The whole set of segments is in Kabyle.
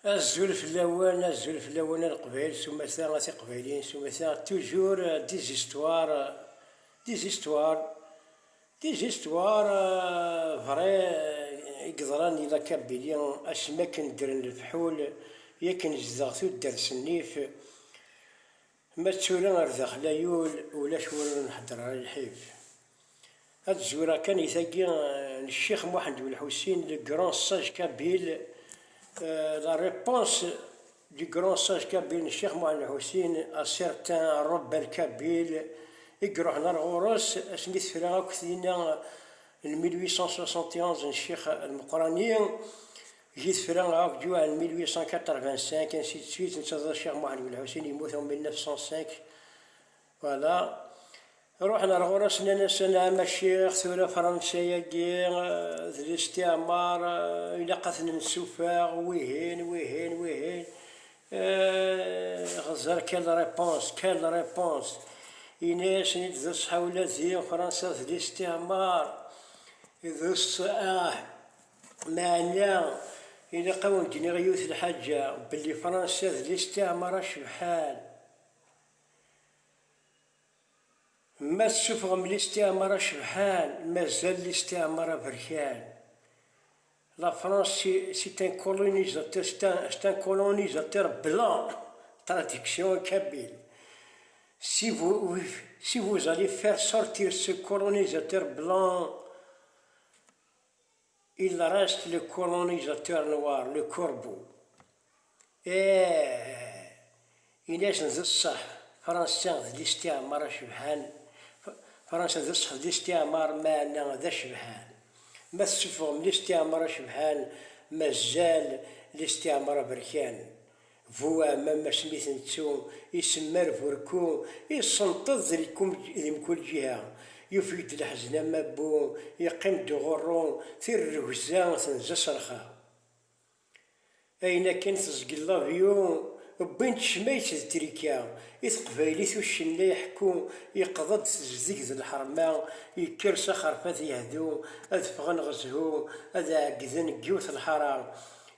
Azul fell-awen, azul fell-awen a Leqbayel s umata, a Tiqbayliyin s umata, toujours des histoires, des histoires, des histoires vraies i yeḍran di La Kabylie, asmi akken ddren lefḥul, i akken zeddeɣ tuddert s nnif, Ma d tura ar daxel a yul ulac win ur nhedder ara lḥif. Ad zureɣ kan di tagi n Ccix Muḥend Belḥusin, le grand sage kabyle, la réponse du grand sage kabyle n Ccix Muḥend Belḥusin à certain rebelle kabyle i iruḥen ar ɣur-s asmi tefra akk tinna n 1871 n Ccix Lmeqrani, Di tefra Aout du en 1885, ainsi de suite, netta d Ccix Muḥend Belḥusin, yemmut en 1905, voilà. Ruḥen ar ɣur-s, nnan-as, a Nɛama Ccix, tura Fransa-agi d listiɛmar, ilaq ad ten-nessufeɣ, wihin, wihin, wihin. Xeẓẓer quelle réponse, quelle réponse! Yenna-yasen-id d ṣṣeḥ, ula d Fransa d listiɛmar, d ṣṣeḥ. Meɛna, ilaq a wen-d-iniɣ yiwet n lḥaǧa, belli Fransa d listiɛmar acebḥan. Ma tessufɣem listiɛmar acebḥan, mazal listiɛmar aberkan. La France c'est un colonisateur, c'est un, c'est un colonisateur blanc, traduction en kabyle. Si vous, si vous allez faire sortir ce colonisateur blanc, Il reste le colonisateur noir, le corbeau. Eeh, in-asen d ṣṣeḥ, Fransa d listiɛmar acebḥan, Fransa d ṣṣeḥ d listiɛmar meɛna d acebḥan. Ma tessuffɣem listiɛmar acebḥan, mazal listiɛmar aberkan. Bu Ɛmam asmi i t-nettu isemmar Burku, isenṭeḍ di mkul ǧiha. Yufeg-d leḥzen am abbu, yeqqim-d uɣurru, tirregza tenza s rrxa. Ayen akken teẓgel labyu, wwin-d ccmayet d trika i teqbaylit uccennay ḥku yeqḍa-d tezdeg d lḥerma, yekker s axerfat yehdu, ad ffɣen ɣezhu ad ɛeggden deg yiwet lḥara,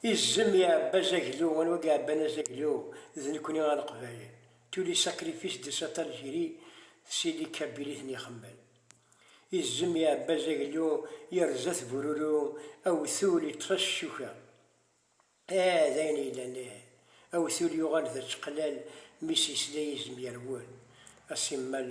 Izem iɛebba azaglu, anwa i iɛebban azaglu? D nekkni a Leqbayel. Tous les sacrifices de cette Algérie c'est les Kabyles i ten-ixemmen. Izem iɛebba azaglu, yerza-t bururu, awtul iṭṭef-as ccuka. Ah, d ayen yellan ih. Awtul yuɣal d ačeqlal mi s-yesla yizem yerwel. A simmal.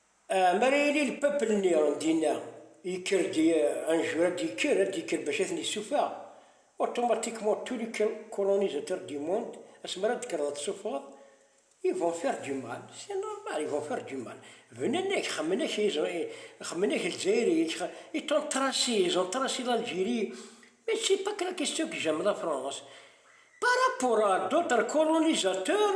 Mi ara yili lpapel-nni dinna, yekker-d anjur, ad d-yekker, ad d-yekker bac ad ten-yessufeɣ, automatiquement tous les colonisateurs du monde, asmi ara d-tekkreḍ ad tessuffɣeḍ, ils vont faire du mal, c'est normal, ils vont faire du mal, bnan-ak, xemmen-ak, xemmen-ak Lezzayer-ik, ils t'ont tracé, ils ont tracé l'Algérie, mais c'est pas que la question que j'aime la France, par rapport à d'autres colonisateurs,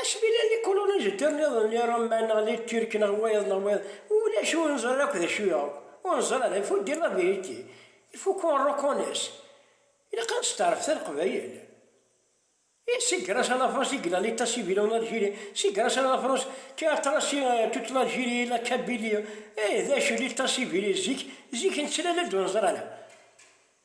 Asmi llan ikulunizatör nniḍen i Roma neɣ di Tirk neɣ wayeḍ neɣ wayeḍ, ulac ur neẓri ara akk d acu yuɣ, ur neẓri ara, il faut dire la vérité, il faut qu'on reconnaisse, ilaq ad nesteɛrfet a Leqbayel. Et c'est grâce à la France i yella l'état civil en Algérie, c'est grâce à la France qui a tracé toute l'Algérie et la Kabylie, eh d acu l'état civil zik, zik nettlal-d ur neẓri ara.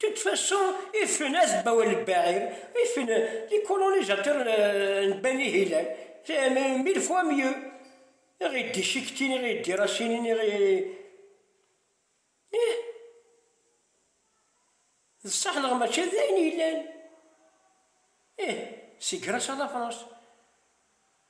De toute façon, ifen azebbawan n Baeir, ifen les colonisateurs n Bani Hilal, c'est mille fois mieux, i ɣ-id-icektin, i ɣ-id-irasinin, i ɣ-i. Ih! D ṣṣeḥ neɣ mačči d ayen yellan? Ih, seg Grâce à la France.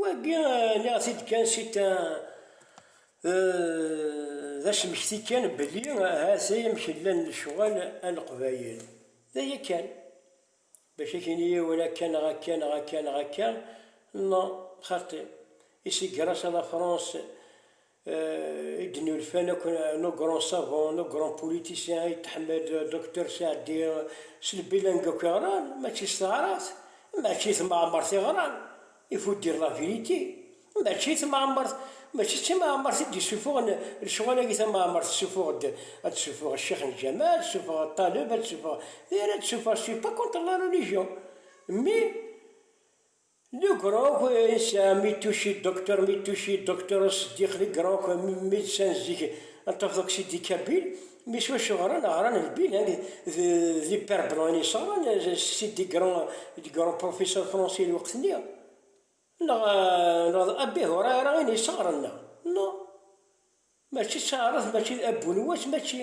Wagi nniɣ-t-id kan si ta d asmekti kan belli ahat ay amek llan lecɣal a leqbayel d aya kan bac a k-ini yiwen akka neɣ akka neɣ akka neɣ akka non xaṭi i si gra-s a la France i d-nulfan akk nos grands savants, nos grands politiciens, Ayt Tḥemmed, Docteur Saɛdi, s lbilanga akk i ɣran, mačči s taɛrabt, mačči d temɛemmert i ɣran, il faut dire la vérité, mačči d temɛemmert, mačči d timɛemmert i d-isufuɣen lecɣal-agi, tamɛemmert tessufuɣ-d, ad tessufuɣ Ccix n Ǧamal, ad tessufuɣ Ṭaleb, ad tessufuɣ, d ayen ara d-tessufuɣ, c'est pas contre la religion, mais. Legrok yesɛa Mittushi, Doctor Mittushi, Doctor Seddiq Legrok, médecin zik n Tafḍuksi di Kabil, mi s wacu ɣran, ɣran d bilingue, d hyperblangue i s-ɣran, Sidi grand d grand professeur français n lweqt-nni, neɣ d Abi Hurayra i s-ɣran, neɣ, neɣ, mačči d taɛrabt, mačči d Abu Nuwas, mačči.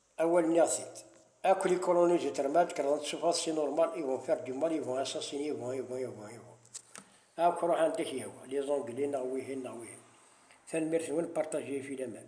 Awal nniɣ-t-id. Akk les colonies du termite kreḍent s ufaḍ c'est normal ils vont faire du mal ils vont assassiner ils vont ils vont ils vont ils vont akk ruḥ anda k-yehwa les anglais neɣ wihin neɣ wihin tanemmirt-nwen partager fi laman.